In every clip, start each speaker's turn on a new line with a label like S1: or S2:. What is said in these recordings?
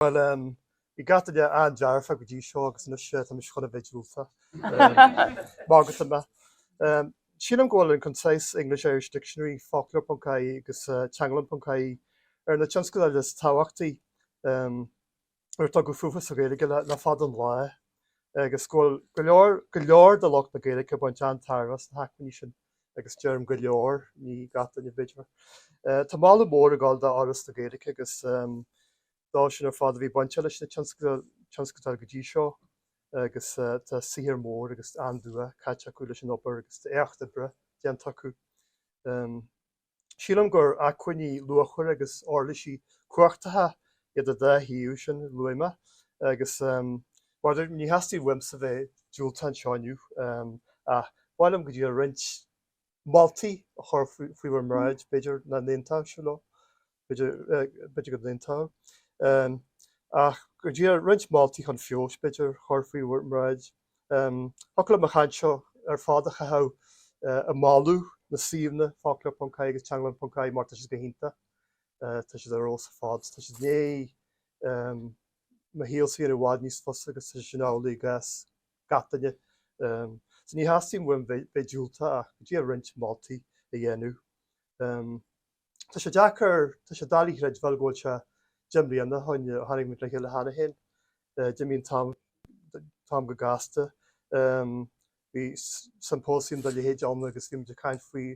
S1: Bhuel, bhí gach duine an-dearfa go dtí seo agus anois tá mise chun a bheith diúltach. Maith agat, Emma, Sílim go bhfuil an Concise English-Irish Dictionary, foclóir ponc ie agus teanglann ponc ie, ar na tionscadail is tábhachtaí ar tugadh fúthu sa Ghaeilge le fada an lá agus go bhfuil go leor de lucht na Gaeilge ag baint an-tairbhe as na hacmhainní sin. agus deirim go leor, ní gach duine b'fhéidir. Tá moladh mór ag dul d'Fhoras na Gaeilge agus dóibh sin ar fad a bhí bainteach leis na tionscadail go dtí seo agus tá saothar mór agus an-dua caite acu leis an obair agus tá éacht oibre déanta acu. Sílim gur acmhainní luachmhara agus uirlisí cumhachtacha iad an dá shuíomh sin a luaigh mé agus mar a deirim ní theastaíonn uaimse bheith diúltach anseo inniu ach ba mhaith liom go díreach roinnt moltaí a chur faoi bhur mbráid, b'fhéidir, nach n-aontóidh sibh leo. b'fhéidir go n-aontódh, ach go díreach roinnt moltaí chun feabhais, b'fhéidir, a chur faoi bhur mbráid. Thiocfadh liom an chaint seo ar fad a chaitheamh ag moladh na suíomhanna, Foclóir.ie agus Teanglann.ie, mar tá siad go hiontach. Tá siad ar fheabhas ar fad, tá siad i ndiaidh mo shaolsa a dhéanamh i bhfad níos fusa agus tá sé sin amhlaidh i gcás gach duine. So ní theastaíonn uaim bheith diúltach ach go díreach roinnt moltaí a dhéanamh. Tá sé deacair, tá sé doiligh a chreidbheáil go bhfuil sé deich mbliana ó shin ó tháinig muid le chéile cheana féin, d'imigh an t-am go gasta. Bhí siompóisiam dá leithéid ann agus bhí muid ag caint faoi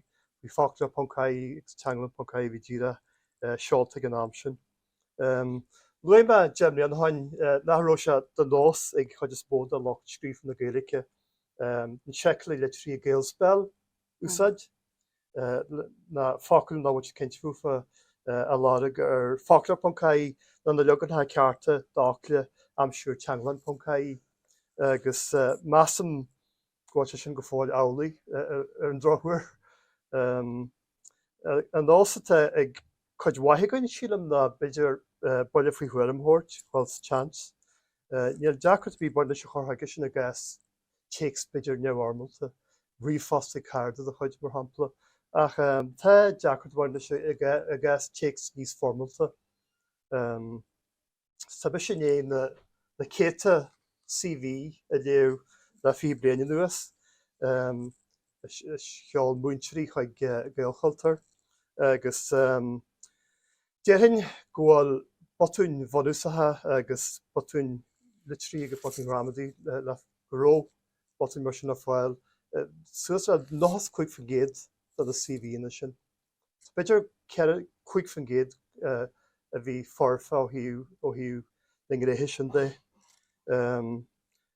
S1: Foclóir ponc ie agus Teanglann ponc ie a bhí díreach seolta ag an am sin. Luaigh mé deich mbliana ó shin nach raibh sé de nós ag cuid is mó de lucht scríofa na Gaeilge an seiceálaí litrithe Gaelspell úsáid ná focail nach bhfuiltear cinnte fúthu a lorg ar foclóir.ie nó na leaganacha cearta d'fhocla a aimsiú ar Teanglann.ie agus measaim go bhfuil sé sin go fóill amhlaidh, ar an drochuair. An nós atá ag cuid mhaith againn, sílim, ná b'fhéidir buille faoi thuairim a thabhairt, dul sa tseans. Níl deacracht ar bith ag baint leis an chur chuige sin i gcás téacs b'fhéidir neamhfhoirmeálta, ríomhphost chuig cairde de do chuid, mar shampla, ach tá deacracht ag baint leis seo i gcás téacs níos foirmeálta. Tá mise i ndiaidh na céadta CV a léamh le fiche bliain anuas. is sheol múinteoirí chuig Gaelchultúr agus déarfainn go bhfuil botúin bhunúsacha agus botúin litrithe agus botúin ghramadaí le go raibh botúin mar sin le fáil i suas le 95% de na CVanna sin. B'fhéidir 4, 5% a bhí foirfe ó thaobh na ngnéithe sin de.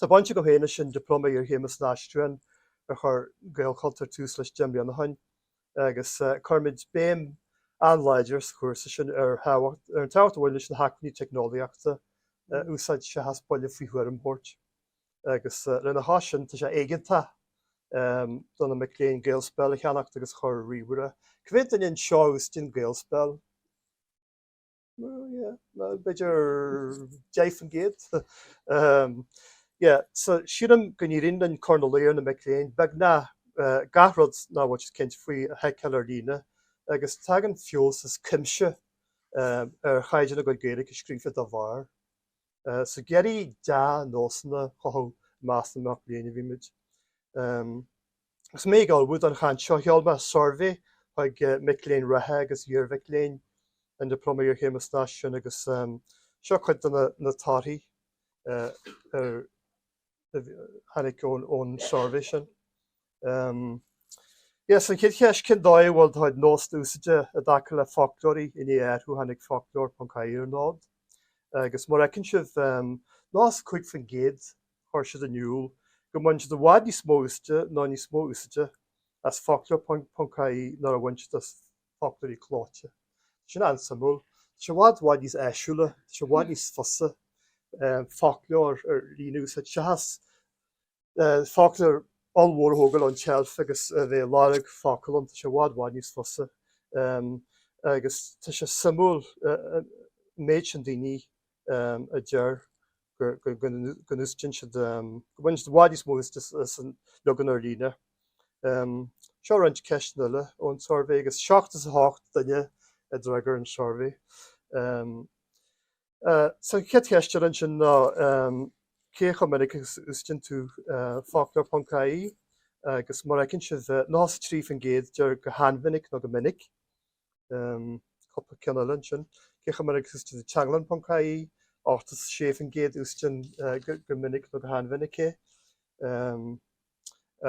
S1: Tá baint agam féin leis an Dioplóma Iarchéime san Aistriúchán ar chuir Gaelchultúr tús leis deich mbliana ó shoin, agus cuirimid béim an-láidir sa chúrsa sin ar an tábhacht a bhaineann leis na hacmhainní teicneolaíochta a úsáid seachas buille faoi thuairim a thabhairt, agus lena chois sin, tá sé éigeantach do na mic léinn Gaelspell a cheannacht agus a chur i ríomhaire. Cá mhéad duine anseo a úsáideann Gaelspell. b'fhéidir 10%. So sílim go n-éiríonn linn cur ina luí ar na mic léinn beagnach gach rud nach bhfuil siad cinnte faoi a sheiceáil ar líne agus tagann feabhas as cuimse ar chaighdeán a gcuid Gaeilge scríofa dá bharr. So ag iarraidh dea-nósanna a chothú i measc na mac léinn a bhímid. Agus mé ag ullmhú don chaint seo sheol mé suirbhé chuig mic léinn reatha agus iarmhic léinn an Dioplóma Iarchéime san Aistriúchán agus seo cuid de na torthaí a tháinig ón suirbhé sin. Yes, an chéad cheist, cén dóigh a bhfuil do chuid nósanna úsáide i dtaca le foclóirí i ndiaidh athrú ó tháinig foclóir.ie ar an fhód agus mar a fheiceann sibh, 95% chuir siad in iúl go mbaineann siad i bhfad níos mó úsáide nó níos mó úsáide as foclóir.ie ná mar a bhain siad as foclóirí clóite. Tá sin an-suimiúil. Tá sé i bhfad, bhfad níos áisiúla, tá sé i bhfad níos fusa foclóir ar líne a úsáid seachas foclóir ollmhór a thógáil ón tseilf agus a bheith ag lorg focal ann. Tá sé i bhfad, bhfad níos fusa agus tá sé suimiúil an méid sin daoine a a deir go n-úsáideann siad, go mbaineann siad i bhfad níos mó úsáide as an leagan ar líne. Seo roinnt ceisteanna eile ón tsuirbhé, agus seachtó is a hocht duine a d'fhreagair an suirbhé. So an chéad cheist eile ansin ná cé chomh minic agus a úsáideann tú foclóir.ie, agus mar a fheiceann sibh, 93% deir go han-mhinic nó go minic. cúpla ceann eile ansin. Cé chomh minic a úsáideann tú Teanglann.ie, 86% a úsáideann go minic nó go han-mhinic é,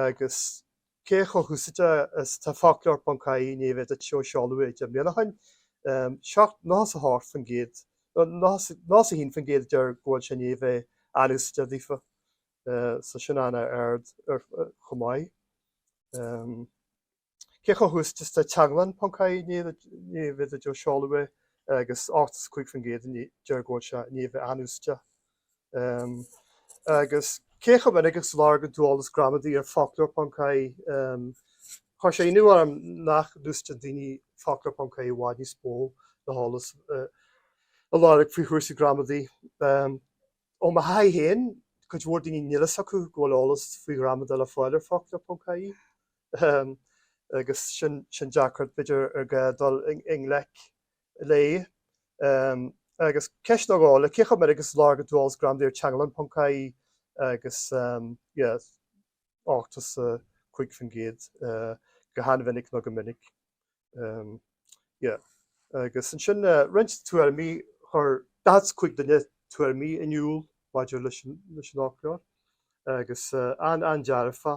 S1: agus cé chomh húsáideach is atá Foclóir.ie i ndiaidh a bheith duit ó seoladh é deich mbliana ó shin. 7 98%, 91% a deir go bhfuil sé i ndiaidh a bheith an-úsáideach daofa, so sin an-ard chomh maith. Cé chomh húsáideach is atá Teanglann.ie i ndiaidh a bheith duit ó seoladh é agus 85% a deir go bhfuil sé i ndiaidh a bheith an-úsáideach. Agus cé chomh minic agus a lorgaíonn tú eolas gramadaí ar Foclóir.ie, chuir sé ionadh orm nach n-úsáideann daoine Foclóir.ie i bhfad níos mó le heolas a lorg faoi chúrsaí gramadaí. Ó mo thaithí féin, cuid mhór daoine níl a fhios acu go bhfuil eolas faoi ghramadach le fáil ar Foclóir.ie. agus sin deacracht b'fhéidir ar gá dul i ngleic léi. Agus ceist á gá le cé chomh minic is a lorgaíonn tú eolas gramadaí ar Teanglann.ie agus 85% go han-mhinic nó go minic. Agus ansin roinnt tuairimí, chuir 45 duine tuairimí in iúl maidir leis an fhoclóir, agus an-dearfa.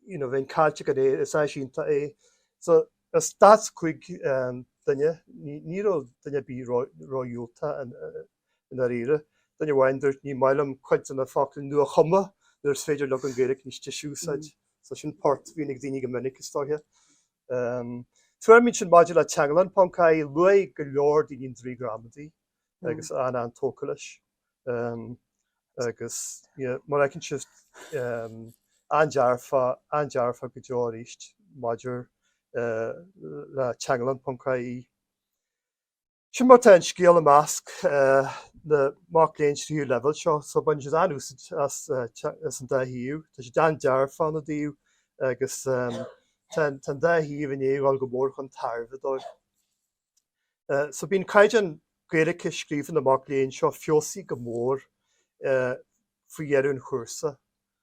S1: Bheinn caillte gan é, is áis iontach é. So, as 45 duine, ní raibh duine ar bith ródhiúltach i ndáiríre. Duine amháin dúirt, Ní maith liom cuid de na focla nua-chumtha nuair is féidir leagan Gaeilge níos deise a úsáid. So sin port a bhíonn ag daoine go minic is dóiche. Tuairimí ansin maidir le Teanglann.ie, luaigh go leor daoine an draoi gramadaí agus an-tógtha leis. Agus mar a fheiceann sibh an-dearfa, an-dearfa go deo arís maidir le Teanglann.ie. Sin mar atá an scéal i measc na mac léinn tríú leibhéal seo, so baineann siad an-úsaid as an dá shuíomh. Tá siad an-dearfa ina dtaobh agus tá an dá shuíomh i ndiaidh a dhul go mór chun tairbhe dóibh. So bíonn caighdeán Gaeilge scríofa na mac léinn seo feabhsaithe go mór faoi dheireadh an chúrsa.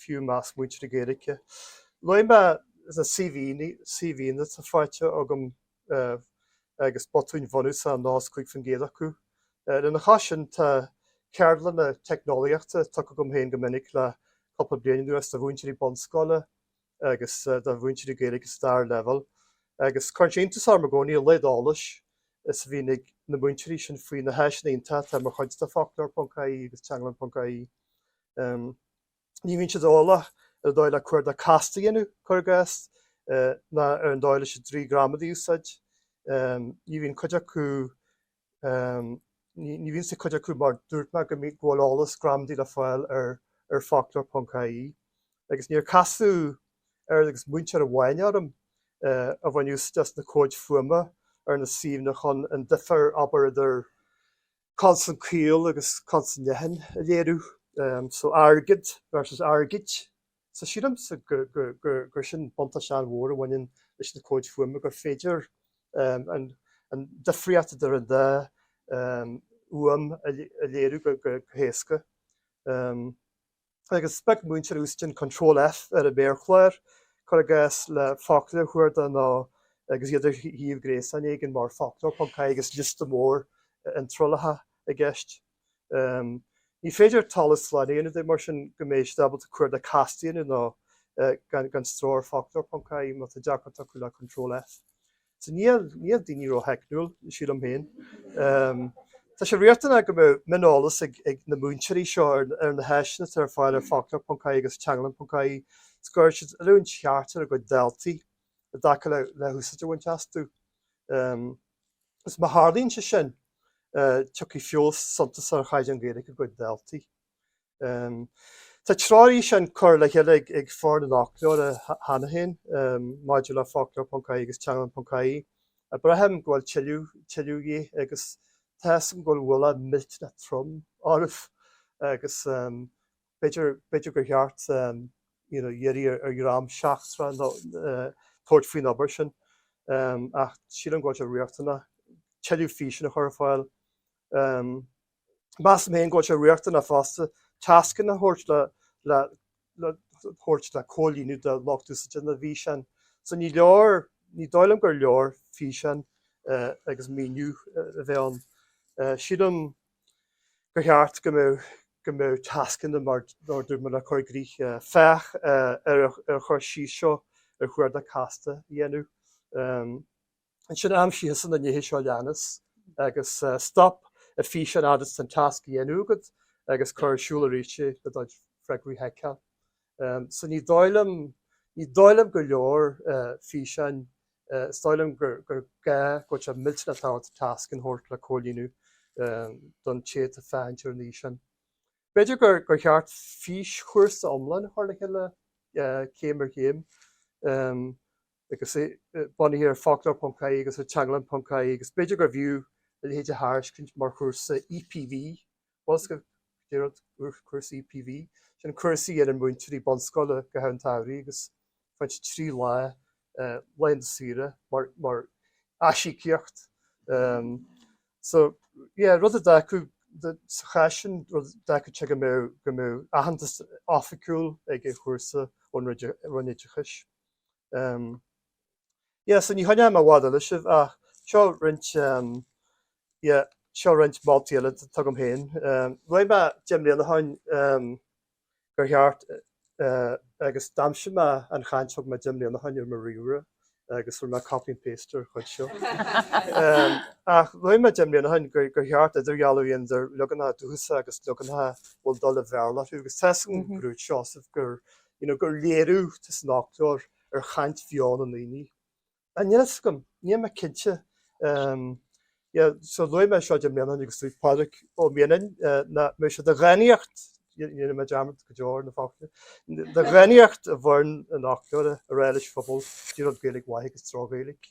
S1: fiú i measc múinteoirí Gaeilge luaigh mé na CVanna atá faighte agam agus botúin bhunúsacha i 95% acu. Lena chois sin, tá ceardlanna teicneolaíochta tugtha agam féin go minic le cúpla bliain anuas do mhúinteoirí bunscoile agus do mhúinteoirí Gaeilge sa dara leibhéal agus cuireann sé iontas orm i gcónaí an laghad eolais is a bhíonn ag na múinteoirí sin faoi na háiseanna iontacha atá mar chuid de foclóir.ie agus teanglann.ie. ní bhíonn siad eolach ar an dóigh le cuardach casta a dhéanamh, cuir i gcás, ná ar an dóigh leis an draoi gramadaí a úsáid. Ní bhíonn cuid acu, ní bhíonn a fhios ag cuid acu mar dúirt mé go mbíonn go bhfuil eolas gramadaí le fáil ar foclóir.ie agus níor casadh oiread agus múinteoir amháin orm a bhain úsaid as na comhaid fuaime ar na suíomhanna chun an difear, abair, idir. consan caol agus consan leathan a léiriú. So airgead versus airgid. So sílimse gur gur sin buntáiste an-mhór a bhaineann leis na comhaid fuaime, gur féidir an difríocht idir an dá fhuaim a léiriú go héasca. agus sprioc múinteoir úsáid an Control F ar an méarchlár, cuir i gcás, le focal a chuardach nó agus iad ar shuíomh gréasáin éigin mar foclóir.ie agus liosta mór iontrálacha i gceist. Ní féidir talamh slán a dhéanamh de, mar sin, go mbeidh siad ábalta cuardach casta a dhéanamh nó gan stró ar foclóir.ie má tá deacracht acu le Control F. So níl daoine ró-theicniúil, sílim féin. Tá sé riachtanach go mbeadh mioneolas ag na múinteoirí seo ar na háiseanna atá ar fáil ar Foclóir.ie agus Teanglann.ie 's go gcuirfidh siad oiliúint cheart ar a gcuid daltaí i dtaca le húsáid a bhaint astu. 'S má tharlaíonn sé sin, tiocfaidh feabhas suntasach ar chaighdeán Gaeilge a gcuid daltaí. Tá treoirfhíseáin curtha le chéile ag foireann an fhoclóra cheana féin maidir le Foclóir.ie agus Teanglann.ie. Braithim go bhfuil tuilleadh de dhíth agus tá a fhios agam go bhfuil ualach millteanach trom oraibh agus b'fhéidir gur cheart iarraidh ar dhream seachtrach tabhairt faoin obair sin ach sílim go bhfuil sé riachtanach tuilleadh físeáin a chur ar fáil. Measaim féin go bhfuil sé riachtanach fosta tascanna a thabhairt a thabhairt le comhlíonadh do lucht úsáide na bhfíseán. So ní leor, ní dóigh liom gur leor físeán agus míniú a bheith ann. Sílim gur cheart go mbeadh go mbeadh tascanna mar a dúirt mé le cur i gcrích, féach ar an chur síos seo ar chuardach casta a dhéanamh. Ansin aimsigh na nithe seo a leanas agus stop an físeán fhad is atá an tasc á dhéanamh agat agus cuir ar siúl arís é le do fhreagraí a sheiceáil. So ní dóigh liom, ní dóigh liom gur leor físeáin, is dóigh liom gur gá go bhfuil sé millteanach tábhachtach tascanna a thabhairt le comhlíonadh don té atá ag féachaint ar an fhíseán. B'fhéidir gur cheart físchúrsa iomlán a chur le chéile céim ar chéim. agus é bunaithe ar foclóir.ie agus ar teanglann.ie, agus b'fhéidir gurbh fhiú a leithéid a thairiscint mar chúrsa EPV, más eol daoibh cúrsa EPV, sin cúrsa a dhéanann múinteoirí bunscoile go háirithe sa tsamhradh agus faigheann siad trí lá laethanta saoire mar aisíocaíocht so yeah rud a d'fhágfadh sa chás sin rud d'fhágfadh sé go mbeadh go mbeadh aitheantas oifigiúil ag an chúrsa ón Roinn Oideachais. Um, yeah, so ní choinneoidh mé i bhfad eile sibh, ach seo roinnt, um, yeah, seo roinnt moltaí eile atá agam féin. Um, Luaigh mé deich mbliana ó shin um, gur cheart, uh, agus d'aimsigh mé an chaint a thug mé deich mbliana ó shin ar mo ríomhaire, agus rinne mé copy and paste ar chuid seo. Um, ach luaigh mé deich mbliana ó shin gur, gur cheart idirdhealú a dhéanamh idir leaganacha dúchasacha agus leaganacha a bhfuil dul an Bhéarla orthu, agus tá sé ina ghnáthsheasamh gur you know gur léiriú atá san fhoclóir ar chaint bheo na ndaoine. Now níl a fhios agam, níl mé cinnte ehm yeah so luaigh mé seo deich mbliana ó shin agus luaigh Pádraig Ó Mianáin nach mbeadh sé de dhánaíocht ní dhéanfaidh mé dearmad go deo ar na focla de dhánaíocht i bhfoireann an fhoclóra a rá leis an phobal caidé rud Gaeilge mhaith agus droch-Ghaeilge.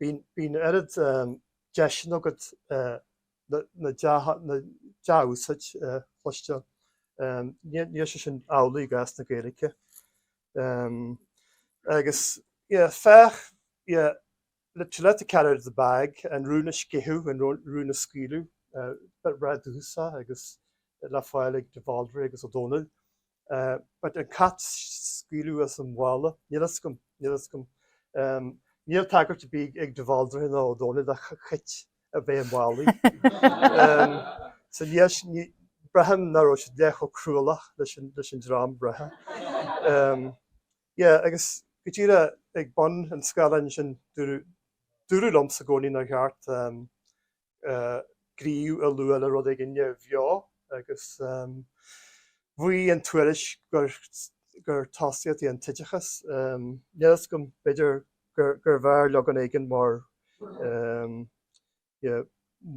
S1: bíonn oiread deiseanna agat an dea-úsáid a chloisteáil. Níl sé sin amhlaidh i gcás na Gaeilge. Agus féach le to let the cat out of the bag, an rún a sceitheadh, an rún a scaoileadh, breá dúchasach agus le fáil ag de Bhaldraithe agus Ó Dónaill. but an cat a scaoileadh as an mhála, níl fhios agam, níl fhios agam, níl tagairt ar bith ag de Bhaldraithe ná Ó Dónaill do chait a bheith i málaí so, braithim nach raibh siad leath chomh cruálach leis an dream eile. Yeah, agus go díreach ag bun an scáileáin sin, dúradh liomsa i gcónaí nár cheart. gníomh a lua le rud éigin neamhbheo agus mhaígh an tuairisc gur tosaíocht í an t-oideachas. Níl fhios agam b'fhéidir gurbh fhearr leagan éigin mar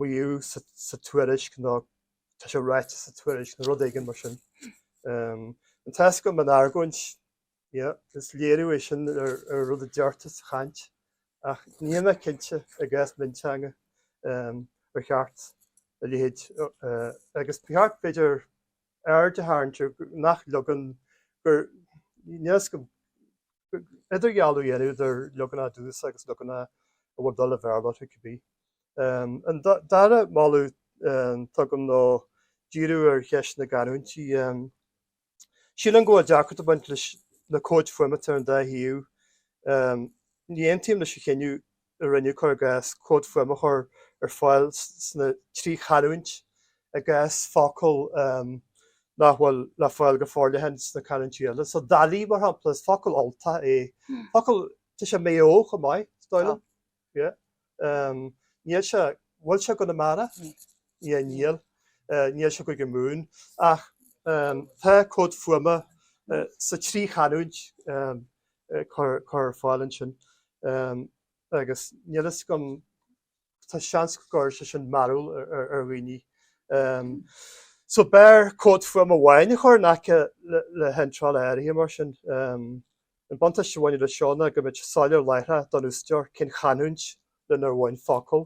S1: maíodh sa tuairisc nó tá sé ráite sa tuairisc nó rud éigin mar sin. Anois tá a fhios agam an argóint Yeah, is léiriú é sin ar an rud a deirtear sa chaint, ach níl mé cinnte i gcás mionteanga ar cheart a leithéid, agus ba cheart b'fhéidir aird a tharraingt ar nach leagan gur, níl fhios agam, idirdhealú a dhéanamh idir leaganacha dúchasacha agus leaganacha a bhfuil dul an Bhéarla orthu cibé. An dara moladh atá agam ná díriú ar cheist na gcanúintí. Sílim go bhfuil deacracht ag baint leis na cóid fuaimeata ar an dá thaobh. Ní aontaím leis an chinneadh a rinneadh, cuir i gcás, cód fuaime a chur ar fáil sna trí chanúint i gcás focail nach bhfuil le fáil go forleathan sna canúintí eile. So dálaí, mar shampla, is focal Ultach é. Focal, tá sé i Maigh Eo chomh maith, is dóigh liom. Yeah. Níl sé. Bhfuil sé i gConamara? Níl. Yeah, níl. Níl sé i gCúige Mumhan. Ach tá Cód Fuaime sa trí chanúint curtha ar fáil ansin. Agus níl a fhios agam, tá seans go gcuirfidh sé sin mearbhall ar dhaoine. So b'fhearr Cód Fuaime amháin a chur in aice le hiontráil áirithe mar sin. An buntáiste a bhaineann leis seo ná go mbeadh sé soiléir láithreach don úsáideoir cén chanúint lenar bhain an focal.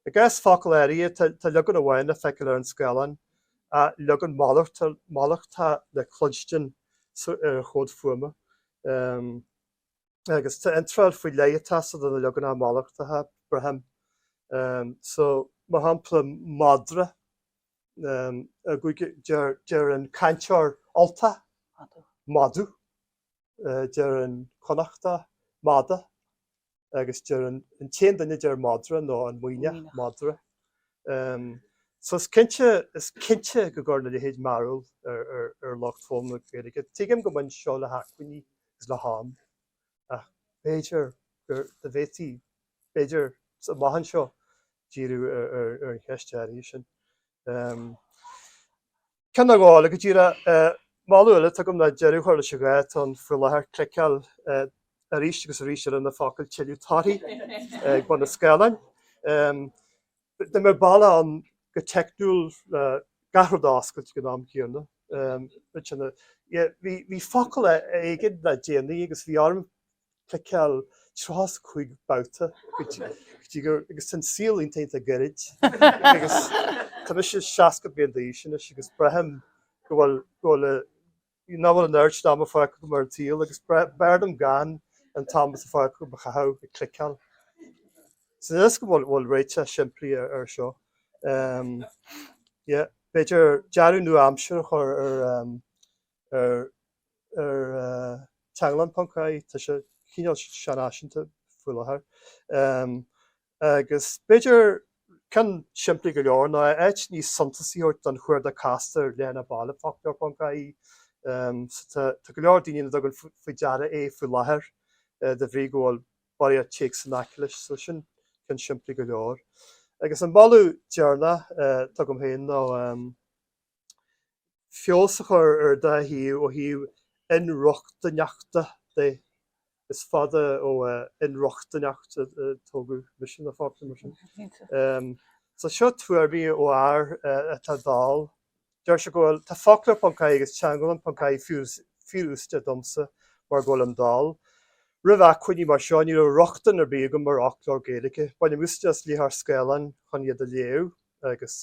S1: I gcás focal áirithe, tá leagan amháin le feiceáil ar an scáileán, ach leagan malartach le cloisteáil ar an chomhad fuaime. Agus tá iontráil faoi leith ag teastáil do na leaganacha malartacha, braithim. Mar shampla, madra. deir an cainteoir Ultach madadh, deir an Connachtach mada, agus is é an t-aon duine a deir madra ná an Muimhneach madra. So is cinnte, is cinnte go gcuireann a leithéid mearbhall ar lucht foghlama na Gaeilge. Tuigim go mbaineann seo le hacmhainní agus le ham. ach b'fhéidir go dtiocfaí b'fhéidir sa mhaidin seo díriú ar an cheist áirithe sin. Ceann nó dhó eile go dtí an moladh atá agam ar deireadh chuirfeadh sé deireadh leis an ghá atá ann faoi láthair cliceáil arís agus arís eile ar na focail tuilleadh torthaí ag bun an scáileáin. Dá mbeadh bealach ann go teicniúil le gach rud a oscailt ag an am céanna. Bhí focal éigin le déanaí agus bhí orm cliceáil 35 babhta go dtí gur. agus tá an saol iontach gairid agus tá mise 60 bliain d'aois anois agus braithim go bhfuil bhfuil nach bhfuil an oiread sin ama fágtha agam ar an tsaol agus b'fhearr liom gan an t-am atá fágtha agam a chaitheamh ag cliceáil. So níl a fhios agam an bhfuil réiteach simplí air seo? Em. Yeah. B'fhéidir dearadh nua-aimseartha a chur ar, em. ar, ar, eh. Teanglann ponc ie. Tá sé cineál seanfhaiseanta faoi láthair. Em. Agus b'fhéidir ceann simplí go leor ná áit níos suntasaí a thabhairt don chuardach casta ar leathanach baile foclóir.ie. Tá go leor daoine nach dtugann faoi deara é faoi láthair de bhrí go bhfuil barraíocht téacs in aice leis, so sin ceann simplí go leor. Agus an moladh deireanach atá agam féin ná. feabhas a chur ar an dá shuíomh ó thaobh inrochtaineachta de. Is fada ó inrochtaineacht a tógadh mise ina pháipéar mar sin. So seo tuairimí ó fhear atá dall. Deir sé go bhfuil, tá foclóir ponc IE agus teanglann ponc IE fíorúsáideach domsa mar go bhfuilim dall. Roimh acmhainní mar seo ní raibh rochtain ar bith agam ar fhoclóir Gaeilge. Bainim úsáid as léitheoir scáileáin chun iad a léamh agus.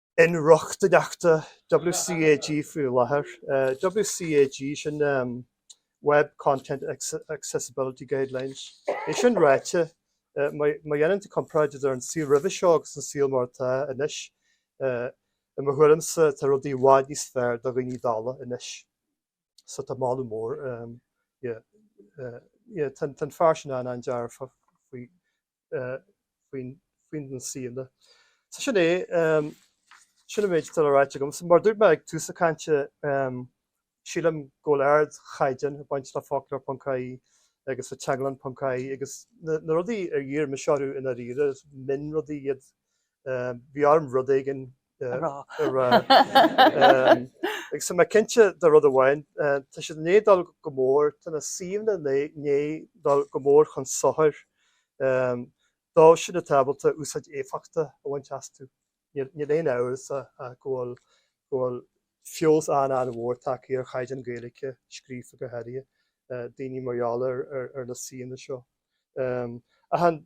S1: inrochtaineachta WCAG faoi láthair. WCAG, sin Web Content Accessibility Guidelines. É sin ráite, má dhéanann tú comparáid idir an saol roimhe seo agus an saol mar atá anois, i mo thuairimse tá rudaí i bhfad níos fearr do dhaoine dalla anois. So tá moladh mór, yeah, yeah, tá an fear sin an-dearfach faoi faoi na suíomhanna. So sin é, sin an méid atá le ráit agam. So mar dúirt mé ag tús na cainte, sílim go bhfuil ardchaighdeán ag baint le foclóir ponc IE agus le teanglann ponc IE agus na rudaí ar dhírigh mise orthu i ndáiríre, is mionrudaí iad. Bhí orm rud éigin a a rá. Agus tá mé cinnte de rud amháin, tá siad i ndiaidh dul go mór, tá na suíomhanna i ndiaidh dul go mór chun sochair dóibh sin atá ábalta úsáid éifeachtach a bhaint astu. Níl aon amhras ach go bhfuil feabhas an-an-mhór tagtha ar chaighdeán Gaeilge scríofa go háirithe daoine mar gheall ar na suíomhanna seo. Ach an.